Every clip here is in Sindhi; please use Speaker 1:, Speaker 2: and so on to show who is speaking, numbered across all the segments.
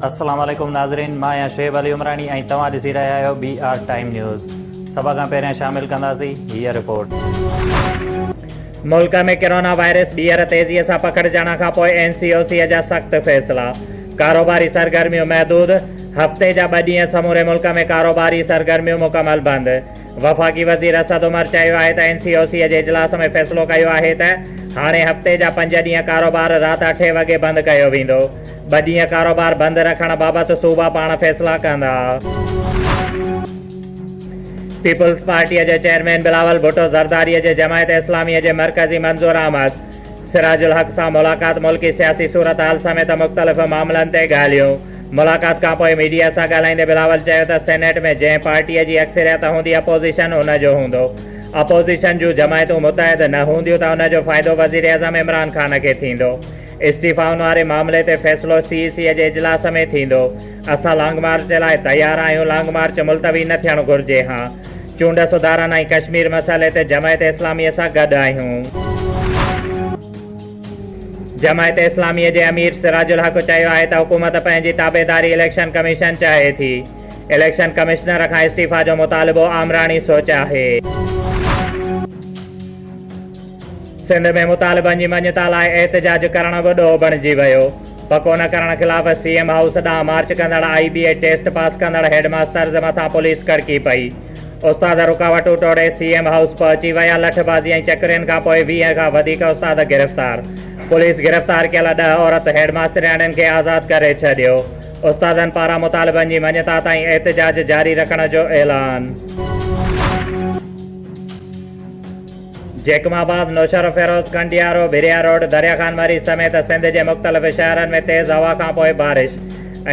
Speaker 1: السلام عليڪم ناظرين مان آهيان شعيب علي عمراڻي ۽ توهان ڏسي رهيا آهيو بي آر ٽائيم نيوز سڀ کان پهريان شامل ڪنداسين هي رپورٽ ملڪ ۾ ڪرونا وائرس ٻيهر تيزي سان پکڙجڻ کان پوء اين سي او سي جا سخت فيصلا ڪاروباري سرگرميون محدود هفتي جا ٻه ڏينهن سموري ملڪ ۾ ڪاروباري سرگرميون مڪمل بند وفاقي وزير اسد عمر چيو آهي ته اين سي او سي جي اجلاس ۾ فيصلو ڪيو آهي ته هاڻي هفتي جا پنج ڏينهن ڪاروبار رات اٺين وڳي بند ڪيو ويندو، ٻه ڏينهن ڪاروبار بند رکڻ بابت صوبا پاڻ فيصلا ڪندا. پيپلز پارٽي جي چيئرمين بلاول ڀٽو زرداري جي جماعت اسلامي جي مرڪزي منظور احمد، سراج الحق سان ملاقات، ملڪي سياسي صورتحال سميت مختلف معاملن تي ڳالهيون. ملاقات کانپوء ميڊيا سان ڳالهائيندي بلاول چيو ته سينيٽ ۾ جنهن پارٽيء جي اڪثريت هوندي اپوزيشن ان جو هوندو. اپوزيشن جون جماعتون متحد نه هونديون ته ان جو فائدو وزيراعظم عمران خان کي ٿيندو. استعيفائن واري معاملي تي فيصلو سي اي سيء جي اجلاس ۾ ٿيندو. اسان لانگ مارچ لاء تيار آهيون، لانگ مارچ ملتوي نه ٿيڻ گهرجي، ها چونڊ سڌارن ۽ ڪشمير مسئلي تي جماعت اسلامي سان گڏ آهيون. جماعت اسلامي جي امير سراج الحق چيو آهي ته حڪومت پنهنجي تابعداري اليڪشن ڪميشن چاهي ٿي، اليڪشن ڪمشنر کان استعيفا جو مطالبو آمراڻي سوچ آهي. سنڌ ۾ مطالبن جي مڃتا لاء احتجاج ڪرڻ به ڏوهه بڻجي ويو. پڪو نه ڪرڻ خلاف سي ايم هائوس ڏانهن مارچ ڪندڙ I B A test pass ڪندڙ هيڊ ماسترز مٿان پوليس ڪڙڪي پئي. استاد رڪاوٽون ٽوڙي سي ايم هائوس پهچي ويا، لٺ بازي ۽ چڪرين کان پوء ويهه کان وڌيڪ استاد گرفتار. پوليس گرفتار ڪيل ڏهه عورت هيڊ ماسترياڻين کي آزاد ڪري ڇڏيو. استادن پاران مطالبن جي مڃتا تائين احتجاج جاري رکڻ جو اعلان. جيڪب آباد، نوشهروفيروز، ڪنڊيارو، ڀريا روڊ، دريا خان مري سميت سنڌ جي مختلف شهرن ۾ تيز هوا کانپوء بارش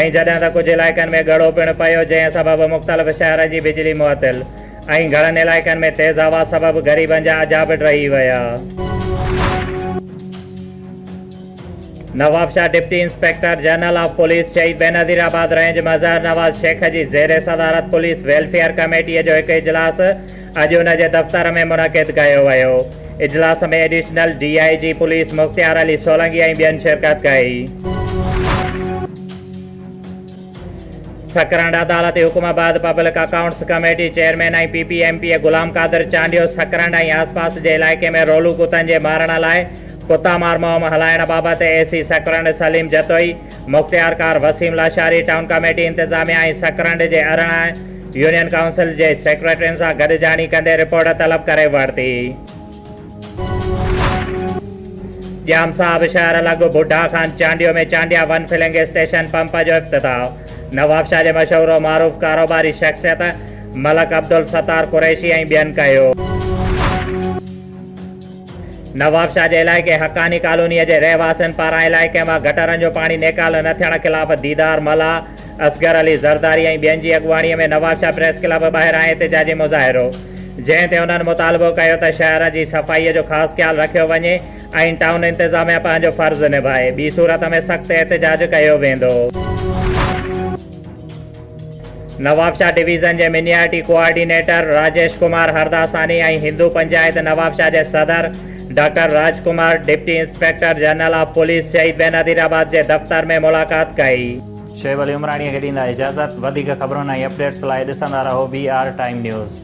Speaker 1: ۽ جڏهن ته ڪجهه علائقن ۾ ڳڙو پڻ پيو جنهن سبب مختلف شهرن جي بجلي معطل ۽ گهڻن علائقن ۾ تيز هوا سبب غريبن جا اجها به ڊهي ويا. Nawabshah, deputy inspector general of police Shaheed Benazir آباد رينج مظهر نواز شيخ جي زير صدارت پوليس ويلفيئر ڪميٽي جو هڪ اجلاس اڄ ان جي دفتر ۾ منعقد ڪيو ويو اجلاس ۾ additional D I G police Mukhtiar Ali Solangi ۽ ٻين شرڪت ڪئي. سڪرنڊ عدالتي حڪم بعد public accounts committee chairman ۽ P P M P A Ghulam Qadir Chandio Sakrand ۽ آسپاس جي علائقي ۾ رولو ڪتن جي مارڻ لاء ڪتا مار مهم هلائڻ بابت اي سي سڪرنڊ سليم جتوئي مختيارڪار وسيم لاشاري ٽائون ڪاميٽي انتظاميه ۽ سڪرنڊ جي ارڙهن يونين ڪائونسل جي سيڪريٽرين سان گڏجاڻي ڪندي رپورٽ طلب ڪري ورتي. ڄام صاحب شهر لڳ Budha Khan Chandio ۾ Chandia one filling station pump جو افتتاح، نوابشاهه جي مشهور و معروف ڪاروباري شخصيت ملڪ عبدالستار قريشي ۽ ٻين ڪيو. نوابشاهه جي علائقي حقاني ڪالونيء جي رهواسين پاران علائقي مان گٽرن جو پاڻي نيڪال نه ٿيڻ خلاف ديدار ملاح، اصغر علي زرداري ۽ ٻين جي اڳواڻيء ۾ نوابشاهه پريس ڪلب ٻاهران احتجاجي مظاهرو، جنهن تي انهن مطالبو ڪيو ته شهر جي صفائيء جو خاص خيال رکيو وڃي ۽ ٽائون انتظاميا پنهنجو فرض نڀائي، ٻي صورت ۾ سخت احتجاج ڪيو ويندو. نوابشاهه ڊويزن جي منياٽي ڪوآرڊينيٽر راجيش ڪمار هرداساني ۽ هندو پنجائت نوابشاهه جي صدر doctor Raj Kumar deputy inspector general of police Shaheed Benazir آباد جي دفتر ۾ ملاقات ڪئي. شعيب علي عمراڻيء کي ڏيندا اجازت. وڌيڪ خبرن ۽ اپڊيٽس لاء ڏسندا رهو بي آر ٽائيم نيوز.